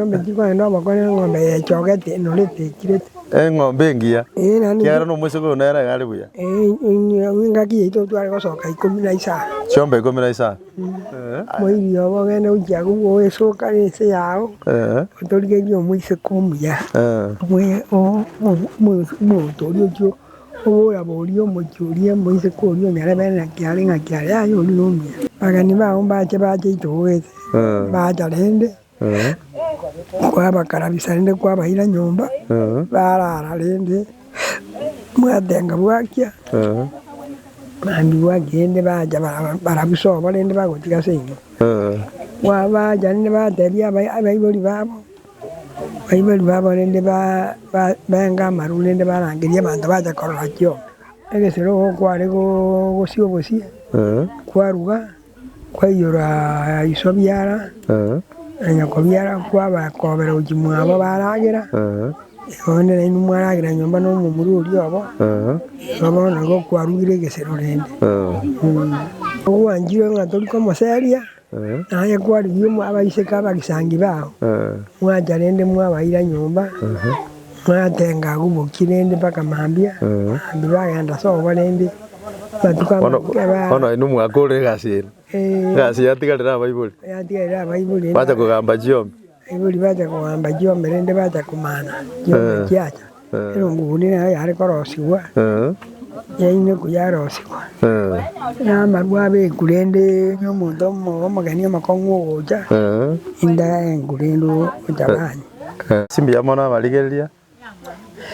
Nomochiko aye nomokore neng'ombe yechogete nonye etechirete. Eng'ombe engiya, ekiagera nomoiseke oyo nere iga are buya. Engaki yaito totware gosoka ikomi na isano. Chiombe ikomi na isano. Moiri obo ogende gochia agwo bwoesoka ense yao, otorigerie omoiseke omuya, omonto oria ochia oboraborie omochie oria omoiseke oria onyarebe ng'aki are ng'aki are, aye oria nomuya. Abageni bao mbache bache aitogete, bacha rende. Kwabakarabia sa rende kwabaira nyomba barara rende mwatenga bwakia mambia bwakia rende bacha barabwo sobo rende bagotiga ase inwe bacha rende batebia abaibori babo abaibori babo rende benga amaru rende barangeria abanto bacha korora chioma egesero ogo kware gosibosie kwaruga. Kwaiyora iso biara, na nyoko biara kwaba kobera gochia mwabo baragera, igo onde nainwe mwaragera nyomba na omomura oria obo, igo bono nigo kwarugire egesero rende. Ogwanchire ng'a tori komoseria, naye kwarigia abaiseke abagisangio bao, mwancha rende mwabaira nyomba. Moratenga agwo boki rende mpaka mambia, mambia bagenda ase obo rende, batuko Bono, amatuko aba- bono aye nomwaka ore egasi ere. Eh, Egasi yatigarire abaibori. yatigarire abaibori rende Bacha kogamba chiombe. abaibori bacha kogamba chiombe rende bacha komana chiombe Eh. chiacha. Eh. Erongo boria nero yare korosigwa, Eh, yainekwa yarosigwa, eh, na amarwa abekwa rende nomonto omo- omogeni omokong'u ogocha, eh. inda engwe rende ocha bwanyu. Ase mbuya mono amarigereria,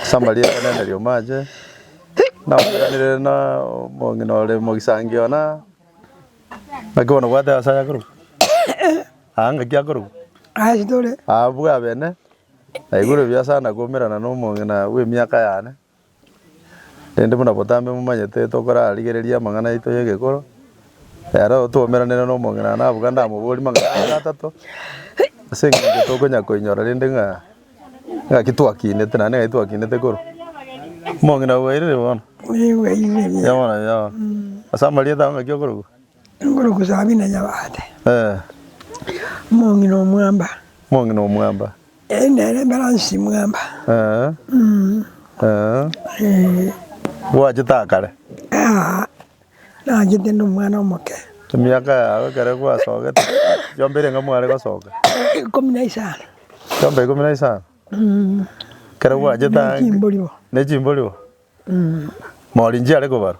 ase amarieta onene riomache, namoiranerie na omong'ina ore mogisangio ona, naki bono obwate ase ayakorokwa? Aa ngaki akorokwa? Abwo abene, naigure buya sana komerana na omong'ina bw'emiaka yane. Rende buna botambe momanyete tokorarigereria amang'ana yaito y'egekoro, ero twaumeranere nomong'ina nabuga ndamoborie mang'ana aria atato, ase eng'encho tokonya koinyora rende ng'a ng'aki twakinete naende ng'aki twakinete korwa. Omong'ina oboireire bono? Oboireire bono. Ase amarieta ao ng'aki okorokwa? Engoroku Sabina Nyabate, Mong'ina Omwamba, Mong'ina Omwamba, Eyi nere Emeransi Mwamba, ee. Gwachete akare? Aa, nachete ndi omwana omoke. Emiaka yago ekero gwasogete yomba erenge mware gosoka? Ikomi na isano. Yomba ikomi na isano? Mm. Ekero gwachete ange. Ne chimbori bo. Ne chimbori bo? Mm. Maorinchi are kobarwa?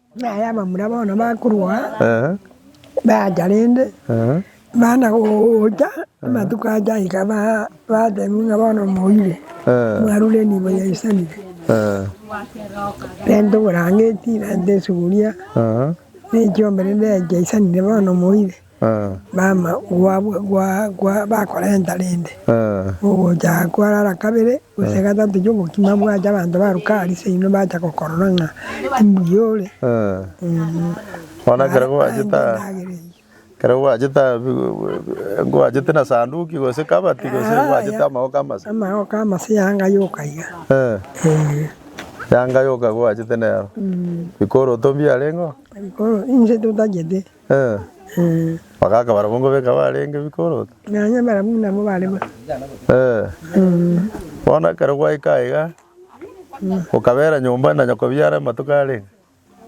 Naye abamura bono bakorwa aa, bacha rende bana gocha amatuko acha aika batebiwa ng'a bono moire, mwarure enibo ya Isariri. Rende oborangeti, rende esuguria, ne echiombe rende yacha Isariri bono moire. Mama gwabo bakorenta rende, ogocha kwarara kabere gose gatato gi'ogokima bwacha, abanto baruka aria seino bacha gokorora ng'a timbuya ore. Bono kero gwachete aria, gwachete na sanduki gose kabati gose gwachete amagoka amase? Amagoka amase yanga yoka iga. Yanga yoka gwachete nero. Bikoroto mbiareng'o? Inche totagete. Bagaka barabwo nkobeka barenge bikorota. Nonya barabwo nabo bare bo. Bono ekero gwaika aiga, okabera nyomba na nyakobia are amatuko arenge?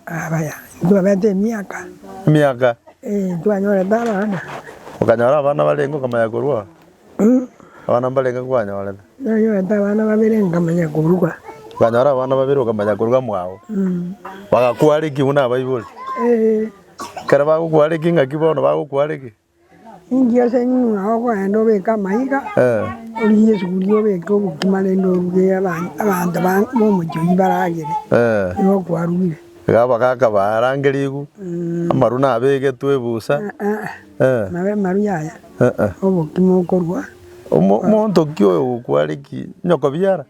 Abaya, ntwabete emiaka. Emiaka? Ee, ntwanyorete abana. Okanyora abana barenge okamanya korwa oo? Abana mbarenge nkwanyorete? Nanyorete abana babere nkamanya koruga. Okanyora abana babere okamanya koruga mwao. Bagakuareki buna abaibori. Ekero bagokuareki ingaki bono bagokuareki? Inki ase ng'ina okoenda obeke amaiga, origie esuguria obeke obokima rende oruge abana abanto ba omochie oyio baragere. Nigo okwarugire. Iga abagaka barange ribu, amarwa nabegetwe ebusa. Eh. Nawe Maru yaya, Eh, eh. obokima okorua Omo- Omonto ki oyo ogokware ki? Nyokobiara?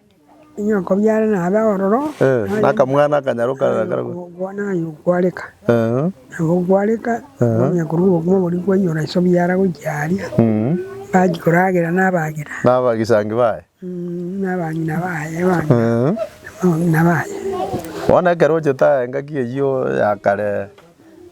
inyokobiare nabe ororo, Eh, naye nakamwana akanyarwa karara karagwa. okogwa naye okwareka. Eh, Nabo okwareka, onya korwa obokima boria kwaiyora ase obiara gochia aria, mm. bachia koragera nabagera, Nabagisangi baye. mm, nabang'ina baye, abana Eh. abang'ina baye. Bono ekero ochete aye engaki eyio ya kare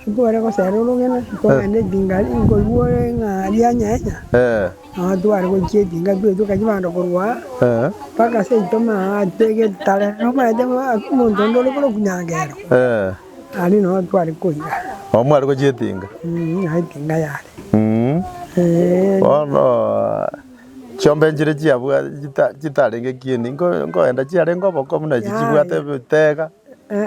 Titware gosera orogena, togenda etinga nkoigwa ore ng'a rianyenya, nabo tware gochia etinga twaetia okachi bande korwa aa mpaka seito maate getare nomaete omonto onde ore korokwa nyangero, aria nabo tware koira. Nabo mware gochia etinga. Nabo etinga yare. Bono chiombe nchire chiabwa chita chitarenge kieni nko nkoenda chiarenge oboko buna echi chibwate ebitega.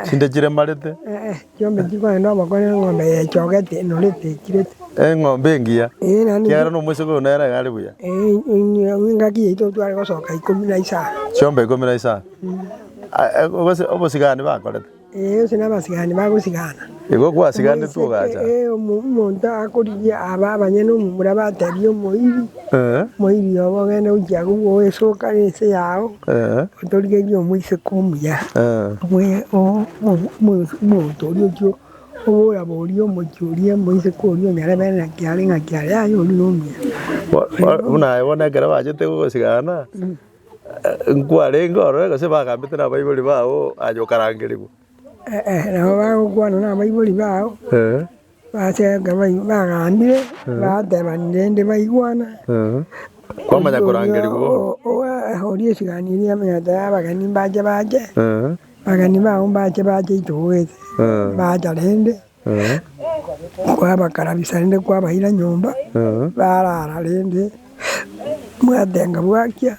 chinde chiremarete, Ee, chiombe chikogenda nobokori, eng'ombe yechogete enorete ekirete. eng'ombe engiya, Ee, naende ekiagera na omoiseke oyo nere iga are buya. Ee, ing'ina- engaki yaito tware gosoka ikomi na isano. Chiombe ikomi na isano. A- e- gose obosigani bakorete. Ee, gose na abasigani bagosigana. Igo gwasiganetwe ogacha. Omoiseke, ee, omo- omonto akorigia aba abanyene omomura bateebie omoiri, Eh, Moiri, oba ogende gochia agwo bwoe esoka nense yao, eh, otorigerie omoiseke omuya. eh. Bwe- o- omo- omo- omonto oria ochio oboraborie omochie oria omoiseke oria onyarebere ng'aki are ng'aki are, aye oria nomuya. Bo- bo- Buna aye bono ekero bachete gosigana, eh, nkwarenge orore gose bagambete nabaibori bao aye okarangerigwe. Nabo bagokwana nabaibori bao, bachaka bagambire, batebana rende baigwana, oria esiganirie emenyete y'abageni mbache bache, abageni bao mbache bache intwe goeta, mbacha rende. Kwabakarabisa rende kwabaira nyomba barara rende mwatenga bwakia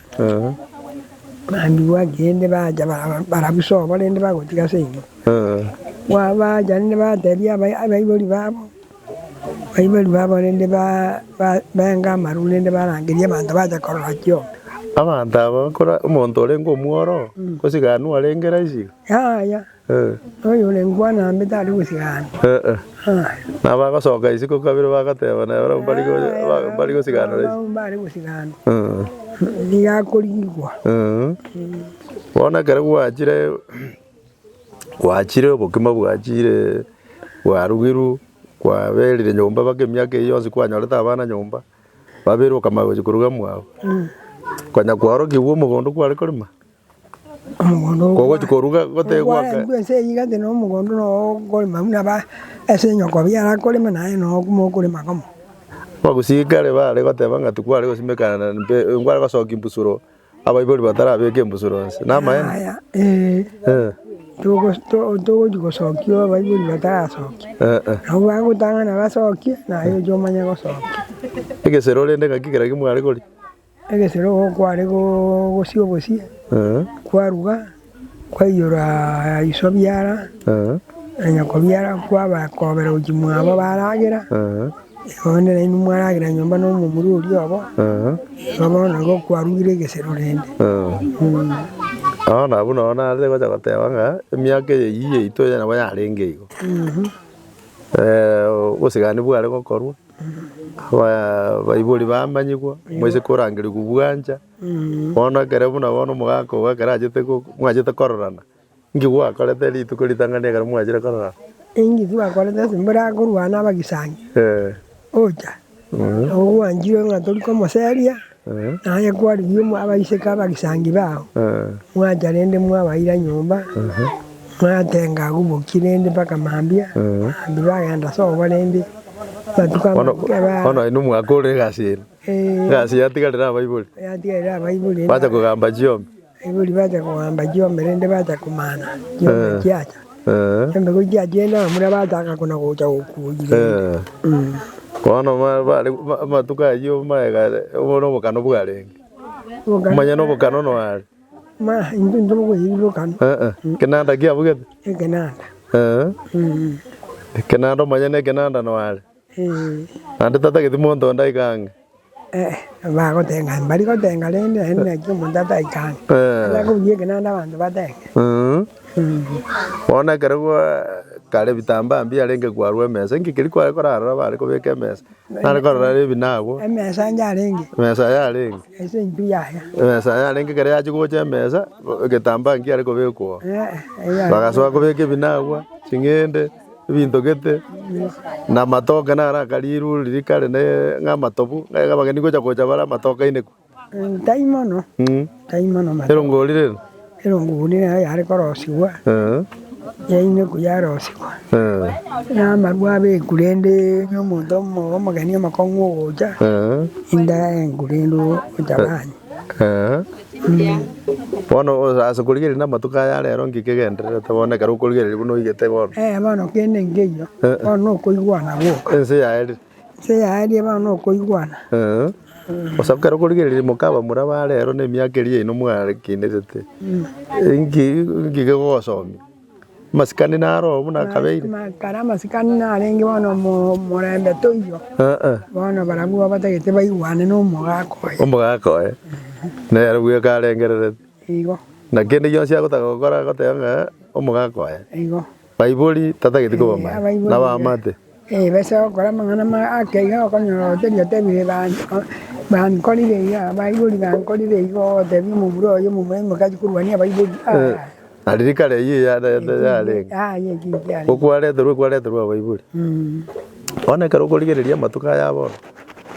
mambia bwakia rende bacha barabwo sobo rende bagotiga ase inwe bacha rende batebia abaibori babo abaibori babo rende benga amaru rende barangeria abanto bacha korora kioma. Abanto aba omonto orenge omworo gose gani arenge raisi iga? Yaya. Oy'orengwana ime tari gosira ande. Nabagosoka isiko kabere bagateba, na barabwo mbare gosiganora isiko. Nabwo mbare gosira ande. Nigo akorigigwa. Bono ekero gwachire, gwachire obokima bwachire, bwarugirwe, kwaberire nyomba mpaka emiaka eyio yonsi kwanyorete abana nyomba, babeire okamanya gochia koruga mwago, konya kwaorokigwa omogondo kware korema, Omogondo Kogochi koruga gotee gwaka. Ogwarentwe ense eyio egati nomogondo noyo okorema buna aba ase enyokobi arakorema naye noyo mokorema komo. Abagusirikare baare goteba ng'a tikware gosimekana na mbe nkware gosokia embusuro abaibori batarabeka embusuro nse. Namaene? Yaya, ee, Eh. togo- to- togochi gosokia abaibori batarasokia. Eh, eh. Nabo bagotang'ana basokie, naye oche omanye gosokia. Egesero rende ng'aki kera kimware koria? Egesero kware gogosia obosie, kwaruga, kwaiyora iso biara, na nyoko biara, kwabakobera gochia mwabo baragera, igo nere inwe mwaragera nyomba na omomura oria obo, igo bono igo kwarugire egesero rende. Bono abwo nabo nare gocha goteba ng'a emiaka eye eyio yaito eye nabo yarenge igo. Obosigani bware gokorwa. Abaibori bamanyigwa, moise korangerigwa obwancha. Bono ekero buna bono omogaka ogo ekero achete go- mwachete kororana, inki gwakorete rituko ritang'ani ekero mwachire kororana? Inki twakorete ase mburakorwa nabagisani? Ee. Ocha, nabo gwanchire ng'a tori komoseria. Aye kwarigia abaiseke abagisangio bao, Mwacha rende mwabaira nyomba, mwatenga agwo boki rende mpaka mambia, mambia bagenda ase obo rende batuko amatuko aba. Bono aye nomwaka ore egasi ere. Egasi yatigarire abaibori. Yatigarire abaibori. Bacha kogamba chiombe. Erio ribacha koamba chiombe rende bacha komana chiombe chiacha chiombe ko chiacha enao buna bachaka kona gocha gokuoyi rende. Bono ma- bare- ma- amatuko ayio maega obone obokano bwarenge Obokano omanye na obokano noare Ma intwe intwe bokoyiri bokano Eh, eh. kenanda kiabugete ekenanda. Eh, ekenanda omanye na ekenanda noare Naende tatageti monto onde aike ang'e. Eeh, bagoteba ng'a mbari gotenga rende naende naki omonto ataike ang'e. Eeh. Ata kobugia eke naende abanto batenge. Eeh. Bono ekero gwa kare ebitambaa mbiarenge kwarwa emesa, inki keria kware korarora bare kobeka emesa? Nare korora are ebinago. Emesa ande arenge. Emesa aye arenge. Ase eng'iti yaya. Emesa aye arenge ekero yachia gocha emesa, egetambaa nkiare kobekwa oo. Eeh, eya. Bagasoa kobeka ebinagwa, ching'ende. ebinto gete, na amatoke naro aka rirwe riria kare ne ng'a amatobu, ng'a iga abageni gocha gocha bare amatoke ainekwe. Tari mono, tari mono amatoke. Erongori rero? Erongori nero yare korosigwa, yainekwa yarosigwa, na amarwa abekwa rende na omonto omo omogeni omokong'u ogocha, inde aengwe rende ocha kanywa. Bono ase korigereria na amatuko aya arero nki kegendererete bono ekero okorigereria buna oigete bono? Eh bono kende nkeiyo bono na okoigwana gwoka. Ense yaerire. Ense yaerire bono na okoigwana. Bosa ekero okorigereria mokabamura aba arero na emiaka eria yaino mware kinerete, nki kegogosomia? Amasikani naroo buna akabeire. Kare amasikani narenge bono omo- omorembe toiyo, Eeh, bono barabwo batagete baigwane na omogaka oye. omogaka oye, nere bweka arengererete. Igo, Na kende gionsi agotaka gokora agoteba ng'a omogaka oye. igo. Baibori tatageti kobamanya, Abaibori, nabamate. Ebese gokora amang'ana ake iga okonyora gose riatebire bankorire iga, abaibori bankorire igo ogotebia omobura oye omobura oimoke achie korwania abaibori aah. Riria kare eyio yarenta yarenge. Aye ekio ekio yarenge. Okwareterwa okwareterwa abaibori. Bono ekero okorigereria amatuko aya bono,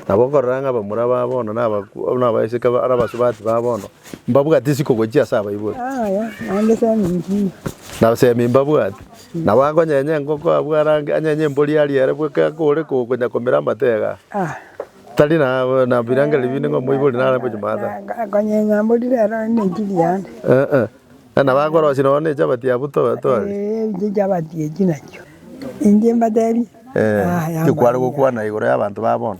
nabo okorora ng'a abamura ba bono na abakwo na abaiseke ba na abasubati ba bono, mbabwati isiko gochia ase abaibori. Naende semi inki iga. Na semi mbabwati. Nabo akonyenye engoko abwo arange, anyenye embori arie ere bwe kaka ore kogonya komera amate iga. Tari na birengererio binde ng'a omoibori nare ngochi maate aya. Akonyenye embori rero ere nenchili yane. Ee. Na nabo akorosia nonya ne chabati abwo tore. Ee, inche chabati echi nachio. Inche mbatebi, Ee. Tikware gokwana igoro y'abanto ba bono.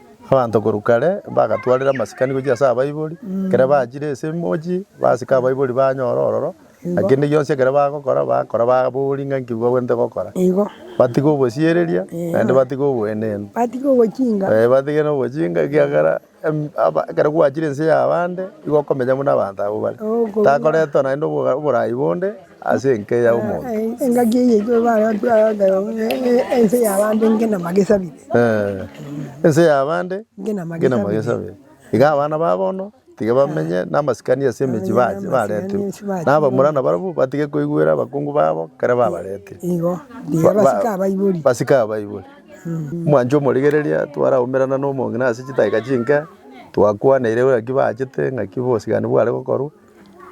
Abanto korwa kare mbagatwarire amasikani gochia ase abaibori, ekero bachire ase emochie basike abaibori banyore ororo, na kende gionsi ekero bagokora, bagokora babori ng'a nki bagwenerete gokora. Igo. Batige obosiereria, naende batige oboenenu. Batige obochinga. Ee batige na obochinga ekiagera em- aba ekero gwachire ense ya abande, nigo okomenya buna abanto abwo bare. Takoretwa naende oboga oborai bonde. Ase enka ya omonto. Engaki eye enywe bare akware akaya ng'a ense y'abande ngenama gesabire. Ense y'abande Ngenama ngenama gesabire. gesabire. Iga abana ba bono tiga bamenye namasikani ase emechie Bamenye bache namasikani bareterwe. ase bache. Na abamura nabarabwo batige koigwera abakungu babo ekero babaretire. Igo, mbuya Ba- ba- basike abaibori. Basike abaibori. Mwanche omorigereria twaraumerana na omong'ina ase chidakika chinke, twakwanaire ng'aki bachete, ng'aki bosigani bware gokorwa.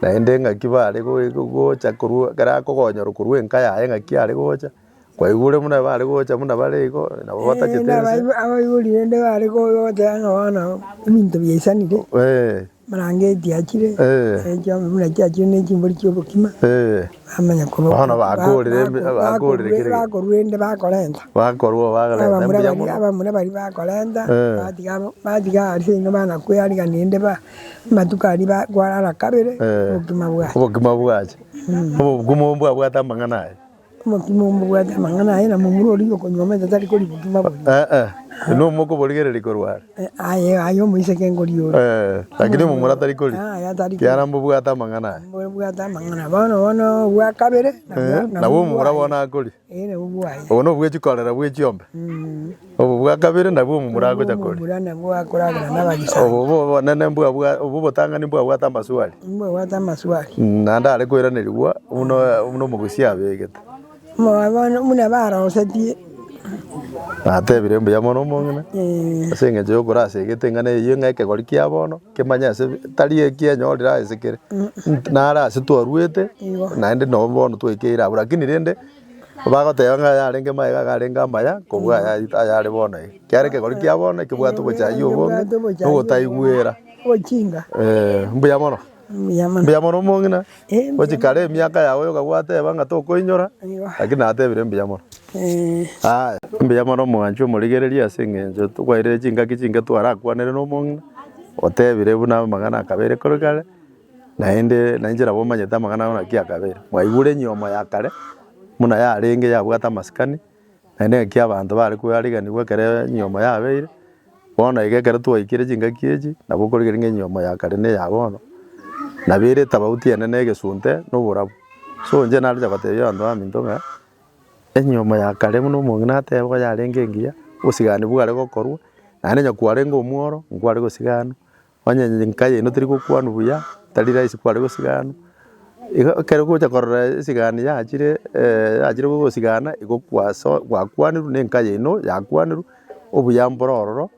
Naende ng'aki bare goe gocha korwa ekero akogonyorwa korwa enka yaye ng'aki are gocha, kwaigure buna bare gocha buna bare igo, nabo batagete ense. Abaibori abaibori rende bare go- gocha ng'a bono ebinto biaisanire, Eeh, brangeti achire, Eh. eh, chianga buna chiachire na echimbori chia obokima, eeh, bamanya korwa Bono ba- ba- bakorire embe- ba- bakorire kere gento. bakorwa rende bakorenta. bakorwa Abamura bagerete mbuya baria mono. abamura baria bakorenta, Eh. batiga amo batiga aria seino bana kwea riga rende ba. Amatuko aria kwarara kabere Eh. obokima bwaye. Obokima bwache. Obokima obo mbwabwate amang'ana aye. Obokima obo mbobwate amang'ana aye na momura oria okonyuomete tari kori bokima boria. Eh eh. Inwe omokoborigereria korwa are. Eh, Aye aye omoiseke nkori oria. Eh. Lakini omomura tari kori. Ah, aye tari kori. Kiara mbobwate amang'ana aye. Mbobwate amang'ana. Bono bono obwa kabere. Eh. Nabwo omomura bono akori. Ere obwaye. Obo nobwechia korera bwe chiombe. Obo bwa kabere nabwo omu muragocha kori. Obura nabwo akoragera nabagisani. Obo obo obonene mbwa bwa obo obotang'ani mbwa bwate amaswali. Mbwa bwate amaswali. Naende are koiranerigwa buna buna omogosi abegete. Omwabano buna barosetie. Natebire mbuya mono omong'ina. Ase eng'encho yokorasa egete eng'ana eyio ng'a ekegori kia bono. Kemanye ase tari eki enyorire ase kere nti nare ase twarwete Igo. naende nabo bono twekeire abwo lakini rende bagoteba ng'a yarenge maega iga arenge amaya kobua aya ayare bono iga kiaro ekegori kia bono ekebwate obochayia obonge Ekebwate obochayia na obotaigwera Ochinga. eh, mbuya mono Mbuya mono. mbuya mono omong'ina. Gochia kare emiaka yao yoka gwateba ng'a tokoinyora, lakini natebire mbuya mono. Aya, mbuya mono mwanchwa omorigereria ase eng'encho tokwairire chingaki chinke twarakwanere nomong'ina, otebire buna amang'ana akabere kore kare, naende nainche nabo omanyete amang'ana naki akabere. Mwaigure enyomo ya kare buna yarenge yabwate amasikani. Naende ngaki abanto bare koariganigwa ekero enyiomo yabeire, bono iga ekero twaikire chingaki echi, nabo okorigereria ng'a enyiomo ya kare na eya bono, nabo ere etafauti ene na egesunte na oborabu. So inche narecha gotebia abanto baminto ng'a, enyiomo ya kare buna omong'ina ateba iga yarenge engiya, obosigani bware gokorwa, naende onye kwarenge omworo, nkware gosiganwa. Onye enka yaino teri gokwanwa buya, tari rahisi kware gosigana. Igo ekero ogocha korora esigani yachire yachire gogosigana, igo kwaso gwakwanirwe na enka yaino yakwanirwe, obuya mbore ororo,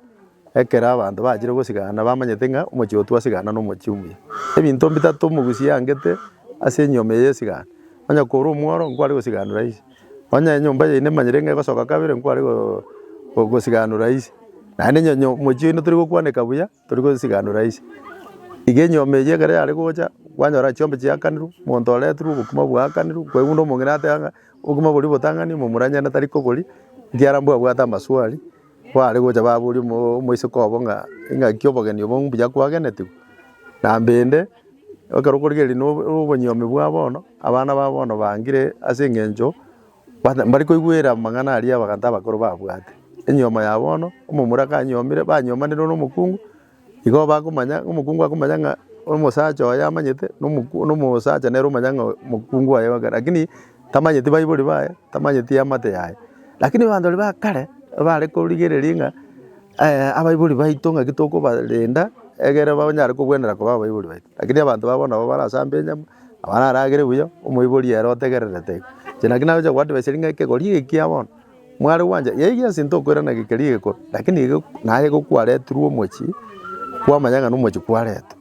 ekero abanto bachire gosigana bamanyete ng'a omochie oyo twasigana na omochie omuya. Ebinto bitato omogusi angete ase enyome ya esigani, onye kore omworo, nkware gosigani rahisi. Onye enyomba yaino nemanyire ng'a egosoka kabere nkware go gosiganora ise. Naende onye nyo mochie oino tori gokwaneka buya, tori gosiganora ise. Iga enyomba eyio ekero yare gocha, kwanyora chiombe chiakanirwe, monto oretirwe, obokima bwaakanirwe, kwaigwa buna omong'ina ateba ng'a obokima boria botang'ani, momoranyare natari kobori, ekiara mbwe abwate amaswali, kware gocha baboria omo omoiseke obo ng'a ng'aki obogeni obo mbuya kwagenetigwe? Nambende. ekero okorigereria na obonyomi bwa bono, abana ba bono bangire ase eng'encho bata mbari koigwera amang'ana aria abanto abakoro babwate. Enyomo ya bono, omomura kanyomire banyomanire na omokungu, igo bakomanya, omokungu akomanya ng'a omosacha oye amanyete na omoku na omosacha nere omanya ng'a omokungu oye obe lakini tamanyeti baibori baye, tamanyeti eamate yaye. Lakini abanto baria ba kare, ebare korigereria ng'a. abaibori baito ng'aki tokobarenda egere banyare kogwenera koba abaibori baito. Rakini abanto babo nabo barasambe enyama, nabo naragere buya, omoibori ere otegererete iga. Inche naki nagocha goadviser ng'a ekegori eke ekiya bono, mware gwancha, eyio egento ntokoirana geke keria egekoro, rakini iga naye igo kwaretirwe omochie, kwamanya ng'a nomochie kwaretwa,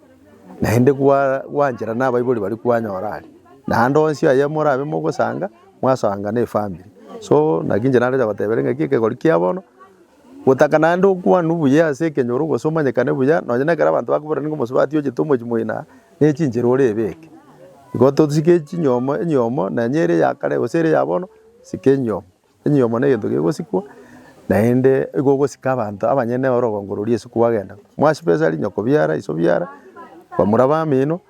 naende kwa gwanchera na abaibori baria kwanyora aria. Naende onsi aye morabe mogosanga, mwasanga na efamiri. So naki inche naroche goteberia ng'aki ekegori kia bono. Gotaka naende okwanu buya ase ekenyoro gose omanyekane buya nonye nekero abanto bakobora nigo mosubati ochete omochi moina nechinchera ore ebeke. Igo tosike chinyomo enyomo nonye ere ya kare gose ere ya bono sika enyomo. Enyomo negento kegosikwa naende igo ogosika abanto abanyene orogongo roria ase kwagenda. Mwasibesari nyokobiara iso biara bamura bamino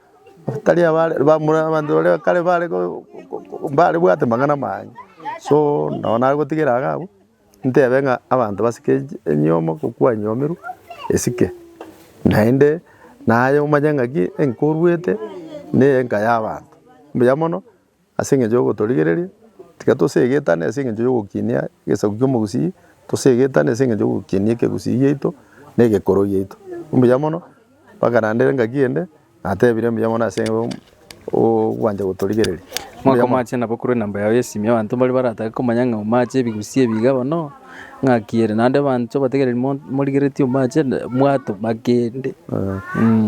batari abare bamura abanto baria kare bare ko ko ko ko bare bwate mang'ana amange so nabo nagotigera iga abwo. Ntebe ng'a abanto basike enyomo gokwanyomirwe esike, naende naye omanye ng'aki enka oruete neye enka y'abanto. Mbuya mono ase eng'encho yogotorigereria, tiga tosegetane ase eng'encho yogokinia egesaku ki'omogusii, tosegetane ase eng'encho yogokinia ekegusii giaito na egekoro giaito. Mbuya mono. Bakaranderia engaki ende, natebire, Mbuya mono ase ogwancha gotorigereria. Mbuya Mwaka mono. omache nabo korwa enamba yao y'esimi abanto mbaria baratake komanya ng'a omache ebigusii ebi iga bono, ng'aki ere. Naende abanto bategereri mo- morigeretie omache na- mwatoma kende.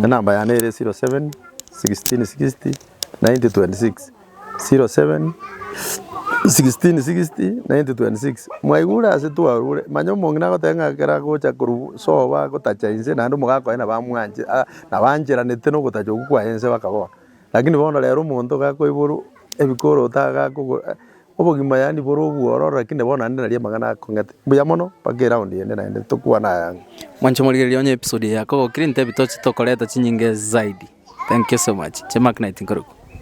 Enamba yane ere 07 16 60 90 26. Mwaigure ase twarure, manye omong'ina agoteba ng'a ekero agocha korwa sobo agotacha inse naende omogaka oye nabamwanche nabancheranete nogotacha okwo kwaye inse bakabora. Lakini bono rero omonto iga akoiborwa ebikoroto iga akogwa obogima yaani bore obwororo lakini bono naende nari amang'ana akong'ete. Mbuya mono mpaka eround ende naende tokwane aya ang'e. Mwanche morigereria onye episode eye yakogokire intebie toche tokoreta chinyinga zaidi. Thank you so much. Chie Mark Knight nkorokwo.